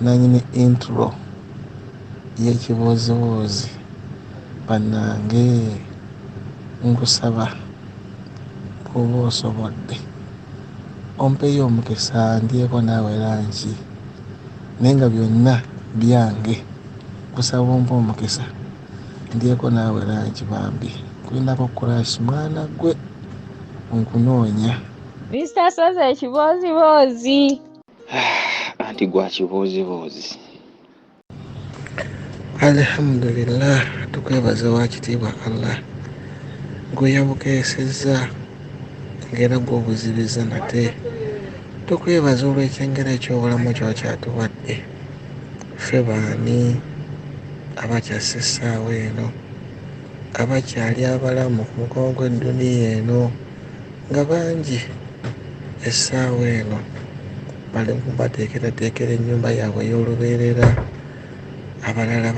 Nanyini intro yekibuuzibuuzi banange nkusaba bwoba osobodde ompeyo omukisa ndyeko naawe lanki naye nga byonna byange nkusaba ompe omukisa ndyeko naawe lanki bambi kulinako kurash mwana gwe nkunoonya Mister Sozi ekibooziboozi. anti gwa kibuuzibuuzi alhamdulillah tukwebaza wakitiibwa allah gweyabukeesezza ngera gwobuzibiza nate tukwebaza olwekyengera ekyobulamu kyokyatuwadde ffe baani abakyassa essaawa eno abakyali abalamu ku mukono gw'edduniya eno nga bangi essaawa eno bali mu kubateekerateekera ennyumba yaabwe ey'olubeerera abalala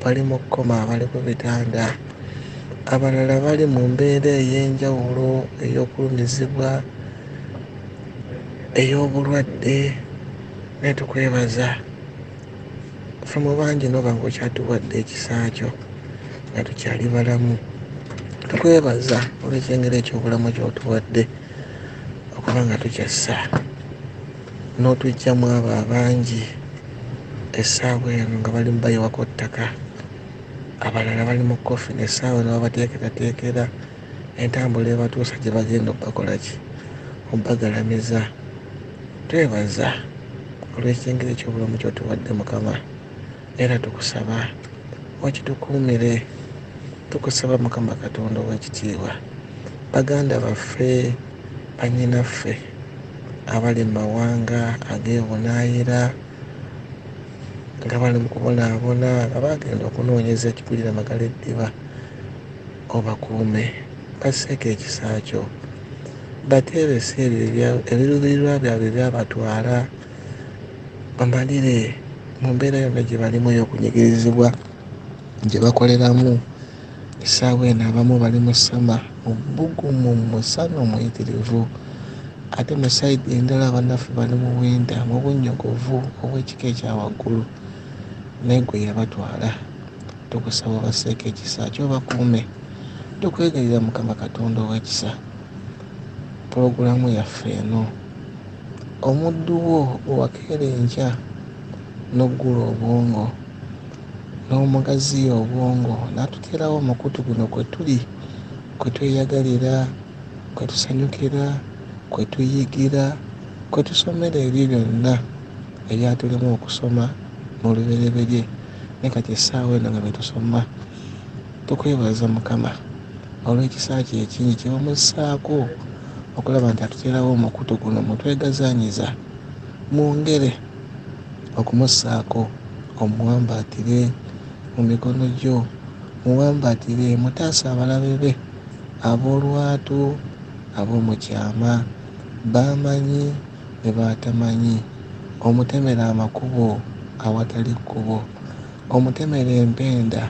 bali mu kkoma abali ku bitanda abalala bali mu mbeera ey'enjawulo ey'okulumizibwa ey'obulwadde naye tukwebaza Somo bangi noba nga okyatuwadde ekisa kyo nga tukyali balamu. Tukwebaza olw'ekyengera eky'obulamu ky'otuwadde okuba nga tukyassa n'otuggyamu abo abangi essaawa eno nga bali mubayiwako ttaka abalala bali mu koffi nessaawa eno babateekerateekera entambula ebatuusa gye bagenda okubakolaki okubagalamiza Twebaza olw'ekyengezo eky'obulamu kyotuwadde Mukama era tukusaba okitukuumire tukusaba Mukama Katonda ow'ekitiibwa baganda baffe banyinaffe abali mu mawanga ag'ebunaayira nga bali mu kubonaabona nga bagenda okunoonyeza ekikulira magala eddiba Obakuume, basseeko ekisa Kyo, bateebese ebyo ebiruubirirwa byabwe ebyabatwala, bamalire mu mbeera yonna gye balimu ey'okunyigirizibwa gye bakoleramu essaawa eno abamu bali mu sama mu bbugumu mu musana omuyitirivu ate mu sayidi endala abannaffe bali mu winda mu bunnyogovu obw'ekika ekya waggulu naye gwe yabatwala Tukusaba obasseeko ekisa kyo obakuume. Tukwegayirira Mukama Katonda ow'ekisa pulogulaamu yaffe eno omuddu wo gwe wakeera enkya n'oggula obwongo n'omugaziya obwongo n'atuteerawo omukutu guno kwe tuli kwe tweyagalira kwe tusanyukira kwe tuyigira kwe tusomera ebyo byonna ebyatulema okusoma mu lubereberye naye kati essaawa eno nga betusoma tukwebaza mukama olw'ekisa kye ekingi kyebamussaako okulaba nti atuteerawo omukutu guno mutwegazanyiza mwongere okumussaako omuwambaatire mu mikono gyo muwambaatire mutaasa abalabe be ab'olwatu ab'omu kyama bamanyi ne b'atamanyi, omutemere amakubo awatali kkubo, omutemere empenda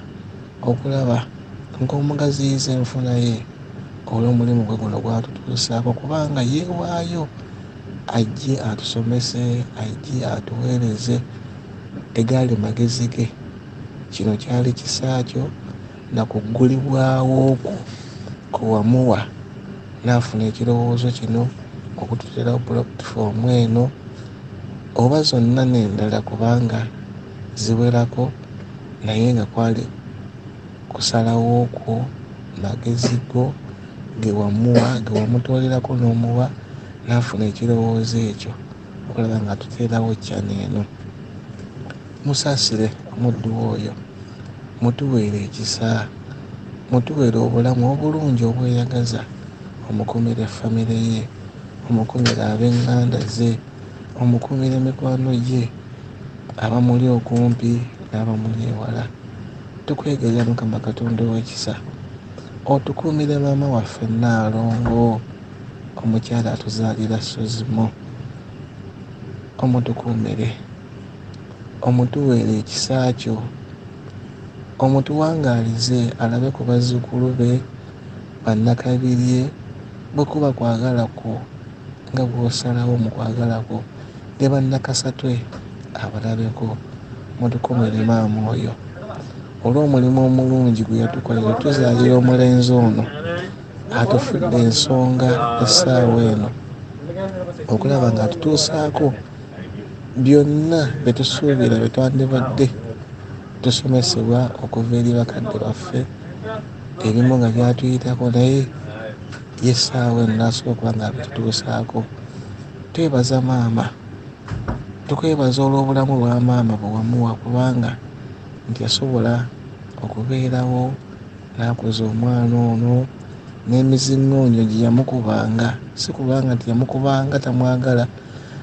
okulaba ng'omugaziyiza enfuna ye olw'omulimu gwe guno gw'atutuusaako kubanga yeewaayo ajje atusomese, ajje atuweereze egaali magezi ge. Kino kyali kisa kyo. na ku ggulibwawo kwo kwe wamuwa n'afuna ekirowoozo kino okututeerawo pulatifomu eno oba zonna n'endala kubanga ziwerako naye nga kwali kusalawo kwo magezi go ge wamuwa ge wamutoolerako n'omuwa n'afuna ekirowoozo ekyo okulaba ng'atuteerawo channel eno. Musaasire omuddu wo oyo. Mutuweere ekisa. Mutuweere obulamu obulungi obweyagaza. Omukuumire famire ye. Omukuumire ab'eŋŋanda ze. Omukuumire mikwano gye, abamuli okumpi n'abamuli ewala. Tukweegayirira Mukama Katonda ow'ekisa, otukuumire maama waffe Nnaalongo, omukyala atuzaalira Suzimo. Omutukuumire. Omutuweere ekisa kyo. Omutuwangaalize alabe ku bazzukulu be, Bannakabirye, bwe kuba kwagala kwo nga bw'osalawo mu kwagala kwo, ne Bannakasatwe abalabeko. Mutukuumire maama oyo. Olw'omulimu omulungi gwe yatukolera otuzaalira omulenzi ono atufudde ensonga essaawa eno okulaba ng'atutuusaako. Byonna bye tusuubira bye twandibadde tusomesebwa okuva eri bakadde baffe ebimu nga byatuyitako naye yesaawa eno nasobola okuba nga bitutuusaako twebaza maama tukwebaza olw'obulamu bwa maama bwewamuwa kubanga nti yasobola okubeerawo n'akuza omwana ono n'emizingoonyo gye yamukubanga si kubanga nti yamukubanga tamwagala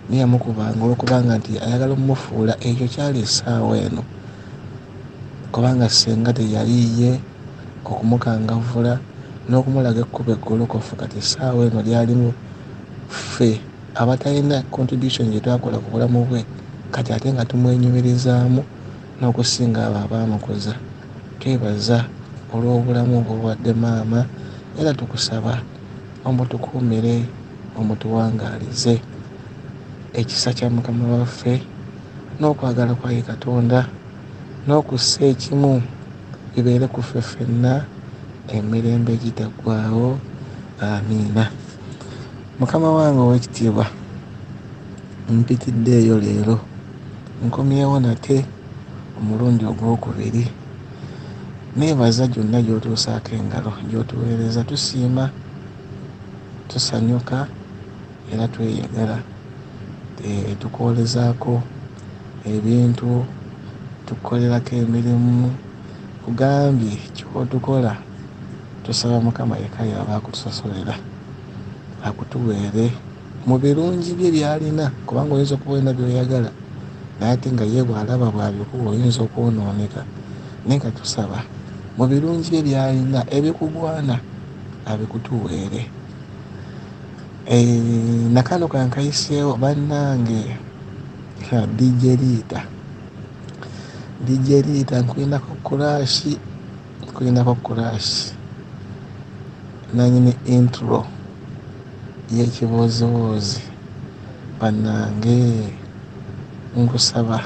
naye yamukubanga olwokubanga nti ayagala omumufuula ekyo kyali esaawa eno kubanga senga teyaliiye okumukangavula nokumulaga ekkuba eggolokofu kati esaawa eno lyalimu ffe abatalina contribution gyetwakola ku bulamu bwe kati ate nga tumwenyumirizaamu n'okusinga abo abaamukuza twebaza olw'obulamu bwowadde maama era tukusaba omutukuumire omutuwangaalize. Ekisa kya Mukama waffe n'okwagala kwa ye Katonda n'okussa ekimu bibeere ku ffe ffenna emirembe egitaggwaawo. Amiina. Mukama wange ow'ekitiibwa, mpitiddeeyo leero, nkomyewo nate omulundi ogw'okubiri. Neebaza gyonna gy'otuusaako engalo, gy'otuweereza. Tusiima. Tusanyuka era tweyagala. Eeh tukwolezaako ebintu, tukukolerako emirimu. Nkugambye ky'otukola tusaba Mukama yekka y'aba akutusosolera, akutuweere mu birungi bye by'alina kubanga oyinza okuba olina by'oyagala naye ate nga ye bw'alaba bw'abikuwa oyinza okwonooneka naye nga tusaba mu birungi bye by'alina ebikugwana. abikutuweere eeh nakano kankayiseewo bannange ha DJ Liita DJ Liita nkulinako kuraasi nkulinako kuraasi nanyini intro y'ekibooziboozi bannange nkusaba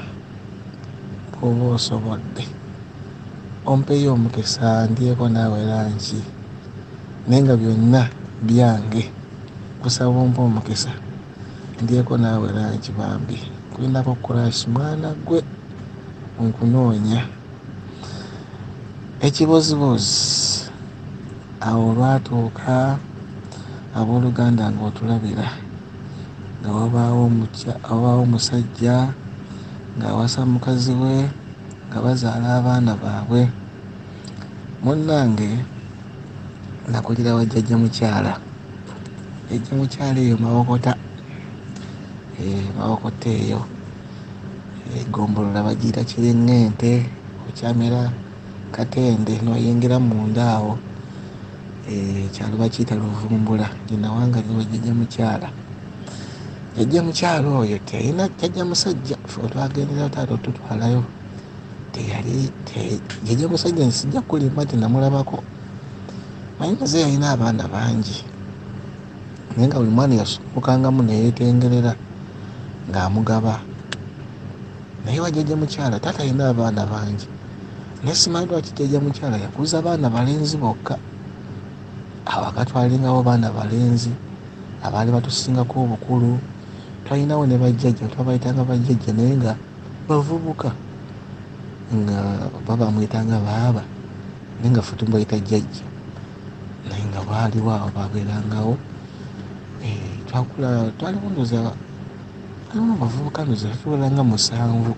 bwoba osobodde Ompeeyo omukisa ndyeko naawe lanci naye nga byonna byange. Nkusaba ompe omukisa ndyeko naawe lanci bambi. Nkulinako crush mwana ggwe nkunoonya. Ekibooziboozi awo olwatuuka abooluganda ng'otulabira nga wabaawo omusajja ng'awasa mukazi we. nga bazaala abaana baabwe munnange nakulira wa jjajja mukyala jjajja mukyala eyo mawokota eh, mawokota eyo egombolola eh, bagiira kiring'ente okyamera katende noyingira munda awo ekyalo eh, bakiyita luvumbula ninawangaliro jjajja mukyala yajja mukyalo oyo teyina jajja musajja otwagendera taata otutwalayo teyali jajja musajja nsijja kulimba ti namulabako naye maze yalina abaana bangi naye nga buli mwana yasumukangamu neyetengerera ng'amugaba naye wajajja mukyala taata yalina abaana bangi naye simanyi lwaki jajja mukyala yakuza baana balenzi bokka awakatwalingawo baana balenzi abaali batusingako obukulu twalinawo ne bajjajja twabayitanga bajjajja naye nga bavubuka nga baba amuyitanga baaba naye nga fe tumubayita jjajja naye nga baaliwo awo babeerangawo eh, twakula twaliwo ndoza alimu abavubuka ndoza tuwera nga musanvu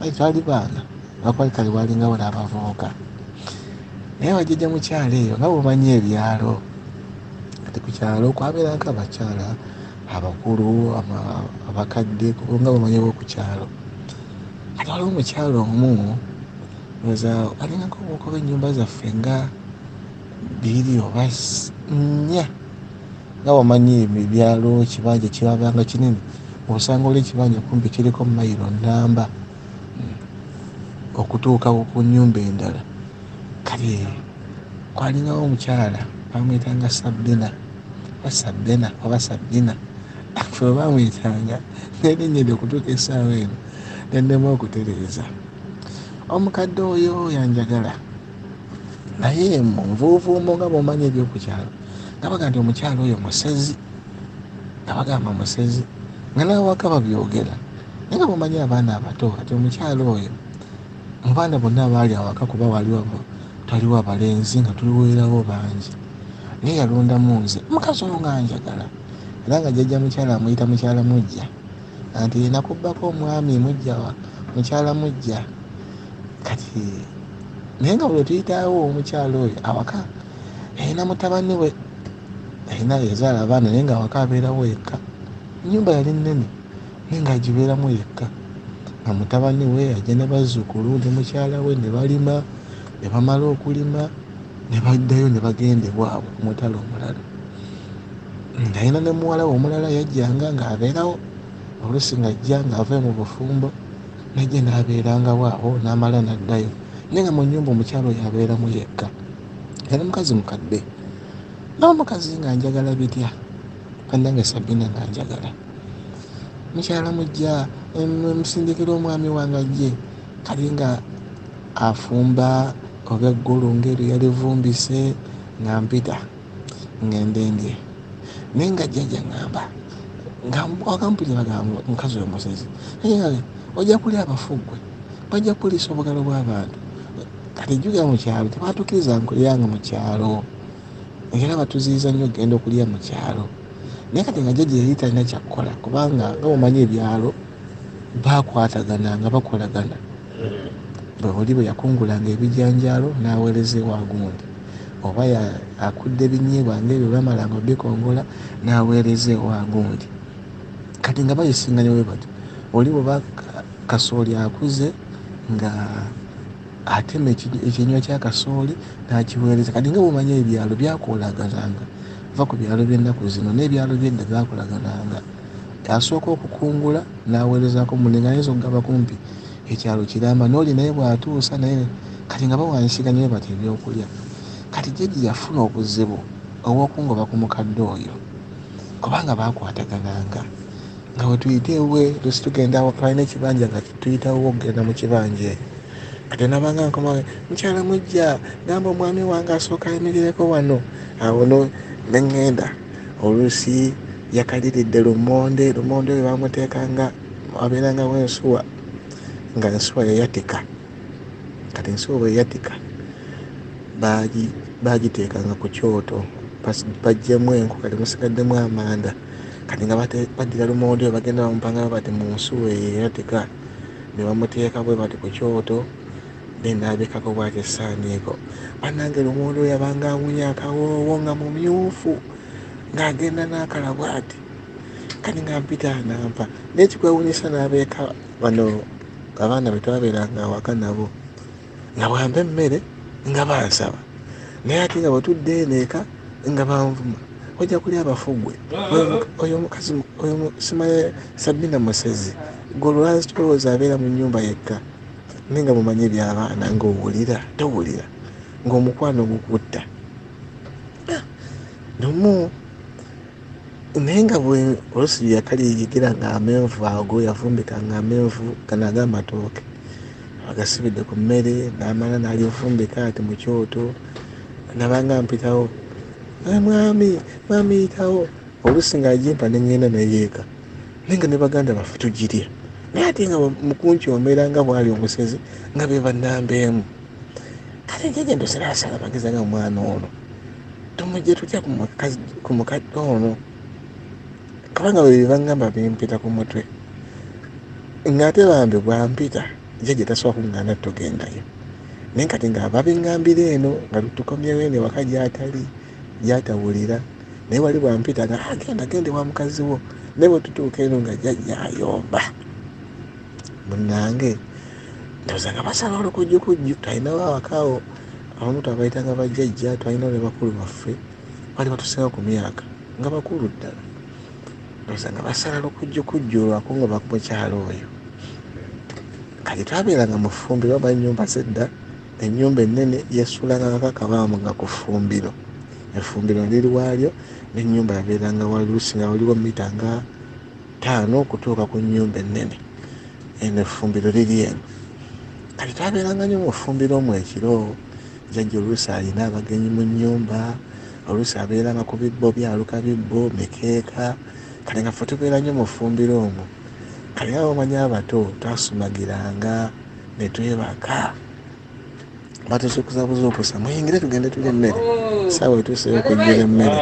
aye twali baana bakwali kale bwalingawo n'abavubuka naye bajjajja mukyalo eyo nga bumanyi ebyalo Kati ku kyalo kwabeerako abakyala abakulu, abakadde nga bamanyiwo ku kyalo. Kati waliwo omukyala omu oza alingako obukuba ennyumba zaffe nga bbiri oba nnya nga wamanyi ebyalo ekibanja kyabanga kinene osanga oli ekibanja kumpi kiriko mayiro namba okutuuka ku nyumba endala kale Kwalingawo omukyala baamuyitanga Sabbina oba Sabbena oba Sabbina ffe baamuyitanga n'erinnya eryo okutuuka essaawa eno ne nnema okutereeza. Omukadde oyo yanjagala naye mu nvuuvuumo nga bw'omanyi eby'oku kyalo nga bagamba nti omukyala oyo musezi nga bagamba musezi nga n'awaka babyogera naye nga bw'omanyi abaana abato kati omukyala oyo Mu baana bonna abaali awaka kuba waaliwo twaliwo abalenzi nga tuliweerawo bangi naye yalondamu nze omukazi oyo nga njagala era nga jjajja mukyala amuyita mukyala mujja anti yena kubbako omwami mujja mukyala mujja kati naye nga buli tuyitawo omukyala oyo awaka ayina mutabani we ayina yazaala abaana naye nga awaka abeerawo yekka enyumba yali nnene naye ng'agibeeramu yekka nga mutabani we ajja ne bazzukulu ne mukyala we ne balima ne bamala okulima ne baddayo ne bagenda ewaabwe ku mutala omulala ng'alina ne muwala we omulala yajjanga ng'abeerawo oluusi ng'ajja ng'ave mu bufumbo najja n'abeerangawo awo n'amala n'addayo naye nga mu nnyumba omukyala oyo abeeramu yekka yali mukazi mukadde nawe mukazi nga njagala bitya banange sabina nga njagala mukyala mujja musindikira omwami wange ajje kali nga afumba oba eggulu ngaeri yalivumbise nga mpita ngendendye naye nga jjaja ngamba ngawagampulira bagamba mukazi oyo musezi naye ojja kulya abafugwe bajja kuliisa obugalo bw'abantu kati jjuga mu kyalo tebatukiriza nkulyanga mu kyalo era batuziyiza nnyo okugenda okulya mu kyalo naye kati nga jajja yali talina kyakukola kubanga nga mumanyi ebyalo bakwatagana nga bakolagana bwebuli bwe yakungulanga ebijanjaalo n'aweereza ewa gundi oba akudde ebinyeebwa ngaebyo bamalanga obikongola n'aweereza ewa gundi kati nga bayisinganya bwe batyo oli bweba kasooli akuze nga Atema ekyenywa kya kasooli n'akiweereza. Kati nga bw'omanyi ebyalo byakoolagananga, va ku byalo by'ennaku zino n'ebyalo by'edda byakolagananga. Asooka okukungula n'aweerezaako munne ng'ayinza okugamba kumpi ekyalo kiramba n'oli naye bw'atuusa naye kati nga bawanyisiganya bwe batyo ebyokulya. Kati Jeje yafuna obuzibu obw'okungoba ku mukadde oyo kubanga baakwatagananga. nga wetuyita ewe tusi tugenda twalina ekibanja nga tuyitawo okugenda mu kibanja eyo kati nabanga nkoma mukyala mujja gamba omwami wange asooka ayimirireko wano awo no neŋŋenda oluusi yakaliridde lumonde lumonde oyo bamuteeka nga abeerangawo ensuwa nga ensuwa yayatika kati ensuwa bweyatika bagiteekanga ku kyoto bajjemu enku kati musigaddemu amanda kati nga baddira lumonde oyo bagenda bamupanga bwe bati mu nsuwa eyo era teka ne bamuteeka bwe bati ku kyoto ne naabikako bwati essaaniiko bannange lumonde oyo yabanga awunya akawoowo nga mumyufu ng'agenda n'akala bwati kati nga mpita anampa naye kikwewunyisa n'abeeka bano abaana be twabeeranga awaka nabo nga bwampa emmere nga bansaba naye ate nga bwetudde eneeka nga banvuma ojja kulya abafugwe oyo mukazi oyo simaye sabina musezi golwaki tolowooza abeera mu nyumba yekka naye nga mumanyi ebyabaana ngaowulira towulira ngaomukwano gukutta ah, nomu naye nga bwe olusi lye yakali yigira nga amenvu ago yavumbika nga amenvu gano ag'amatooke agasibidde ku mmere n'amala n'alyovumbika ati mu kyoto nabanga mpitawo ah, mwami mwami yitawo olusi nga agimpa ne ŋŋenda neyeeka naye nga ne baganda baffe tugirya naye ate nga mukunkyomera nga bwali omusezi nga be bannambeemu kale njaja ndosera asala magezi nga omwana ono tumujje tutya ku mukadde ono kubanga bwe bibangamba bimpita ku mutwe ng'ate bambi bwampita jajja tasobola kungana tugendayo naye kati nga babingambira eno nga tukomyewo eno ewaka gyatali gyatawulira naye wali bwampita nga agenda ah, gende wa mukazi wo naye bwetutuuka eno nga jajja ayomba munange ndoza nga basala olukujjukujju talinawo awakaawo abamu twabayitanga bajjajja twalina ne bakulu baffe bali batusinga ku myaka nga bakulu ddala oza nga basala lukujju kujju olwako nga bamukyalo oyo kati twabeeranga mu ffumbiro oba ennyumba zedda ennyumba ennene yasulanga kakakabaamu nga ku ffumbiro effumbiro liri waalyo n'ennyumba yabeeranga waluusi nga waliwo mita nga ttaano okutuuka ku nnyumba ennene eno effumbiro liri eno kati twabeeranga nyo mu ffumbiro omu ekiro jajja oluusi alina abagenyi mu nnyumba oluusi abeeranga ku bibbo byaluka bibbo mikeeka kale nga fe tubeera nyo mu ffumbiro omu kale nga bamanya abato twasumagiranga ne twebaka batusukuza buzuukusa muyingire tugende tulya emmere saawa etuuseyo okujjira emmere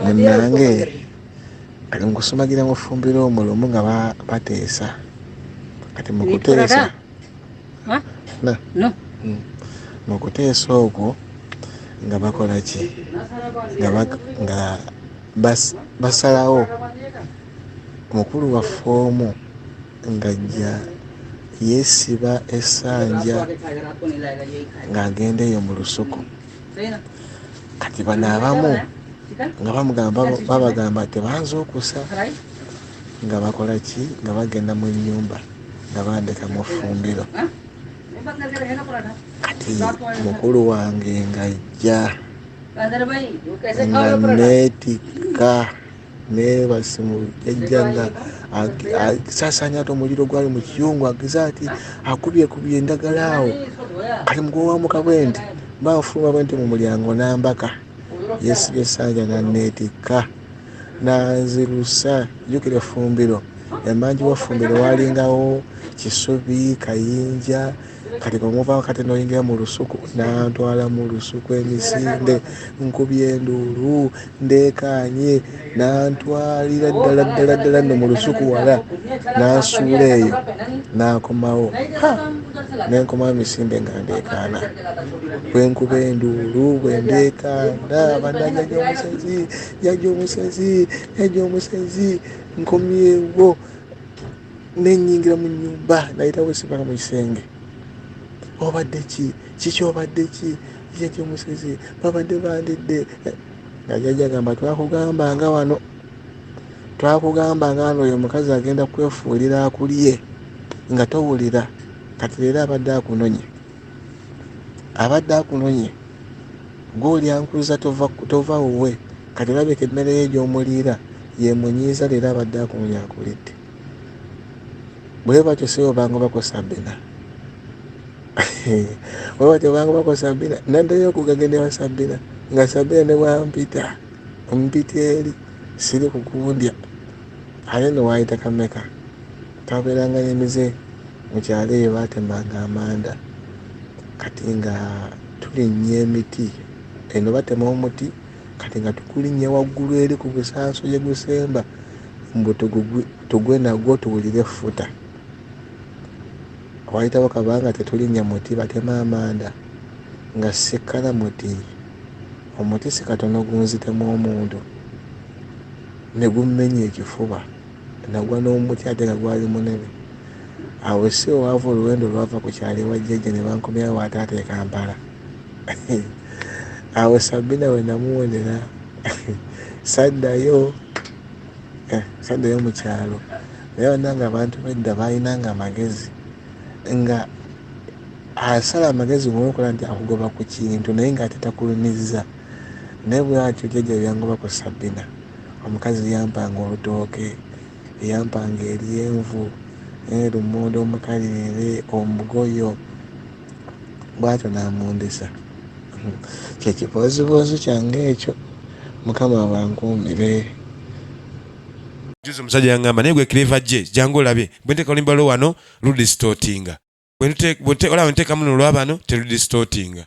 munange kati mukusumagira mufumbira omwo lumu nga bateesa kati mukuteesa hmm. mukuteesa okwo nga bakola ki nga basalawo mukulu waffe omu ngajja yeesiba esanja ng'agenda eyo mu lusuku kati bano abamu nga bamugamba babagamba tebanza okusa nga bakola ki nga bagenda mu nyumba nga bandeka mu fumbiro kati mukulu wange ngajja nga netika naye basimu yajjanga sasanya ati omuliro gwali mu kiyungu ageze ati akubyekubye endagala awo kati mugwowamuka bwendi bafuluma bwenti mu mulyango nambaka yesibye sanja nanetikka nanzirusa jukira efumbiro emanji wefumbiro walingawo kisubi kayinja kati bwemuvawo kati noyingira mu lusuku nantwala mu lusuku emisinde nkubye enduulu ndekaanye nantwalira ddala ddala ddala no mu lusuku wala nansuula eyo nakomawo nenkomawo emisinde nga ndekaana bwenkuba enduulu bwendekaana bananya gyomusezi jaja omusezi jaja omusezi nkomyewo nenyingira mu nyumba nayita wesibala mu kisenge obadde ki kiki obadde ki jajja omusezi babadde bandidde nga jajja gamba twakugamba nga wano twakugamba nga wano oyo mukazi agenda kwefuulira akulye nga towulira kati leero abadde akunonye abadde akunonye gwolya nkuza tova wuwe kati olabika emmere ye gyomuliira yemunyiiza leero abadde akunonye akulidde bwe batyo sibo bangu bakosa bina bwe batyo bangu bakosa bina nandayo okugagenda wa sabina nga sabina ne bwampita ompita eri siri kukundya ate newayita kameka Twabeeranga n'emize mu kyalo eyo baatemanga amanda kati nga tulinnya emiti. Eno batema omuti kati nga tukulinnya waggulu eri ku busanso gye gusemba mbu tugwe nagwo tuwulire effuta. Waayitawo kabanga tetulinnya muti batema amanda nga sikkala muti. Omuti si katono gunzitemu omuntu ne gummenya ekifuba. Nagwa n'omuti ate nga gwali munene. Awo e Siwo waava oluwenda olwava ku kyalo ewa jjajja ne bankomyawo ewa taata e Kampala. Awo Sabina we namuwonera saddayo eh, saddayo mu kyalo. Naye bannange abantu b'edda baalinanga amagezi nga asala amagezi ng'onokola nti akugoba ku kintu naye ng'ate takulumizza. Naye bwatyo jjaja byangoba ku Sabina omukazi yampanga olutooke, yampanga eryenvu, eh lumonde omukalirire, omugoyo bwatyo namundisa kye kibooziboozi kyange ekyo mukama abankuumire. Juzi omusajja yangamba naye gwe clever je jangu olabe bwe nteka olimba lo wano lu distortinga bwe olaba ntekamu no lwabano telu distortinga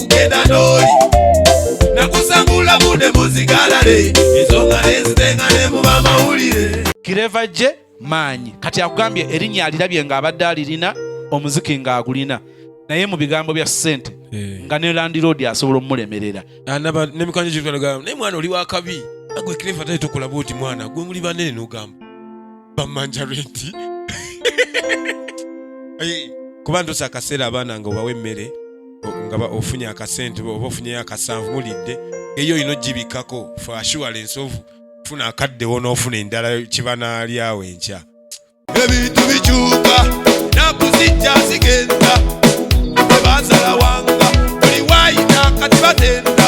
kugenda n'oli nakusangula bude muzigalale ensonga nezitenga ne mu bamawulire kireva gye maanyi kati akugambye erinnya alirabye nga abadde alirina omuziki ng'agulina naye mu bigambo bya ssente eh. nga ne landiroodi asobola omulemerera ah, naye mwana oli wakabi agwe kireva tali tokola bwoti mwana gwe muli banene nogamba bamanja renti Ayi, kuba ntusa akaseera abaana nga obawa emmere o- nga ba- ofunye akasente oba ofunyeyo akasanvu mulidde eyo olina ogibikkako for assurance of funa akaddewo n'ofuna endala kibanaalyawo enkya ebintu bikyuka naku zijja zigenda tebansala wanga buli waayita kati batenda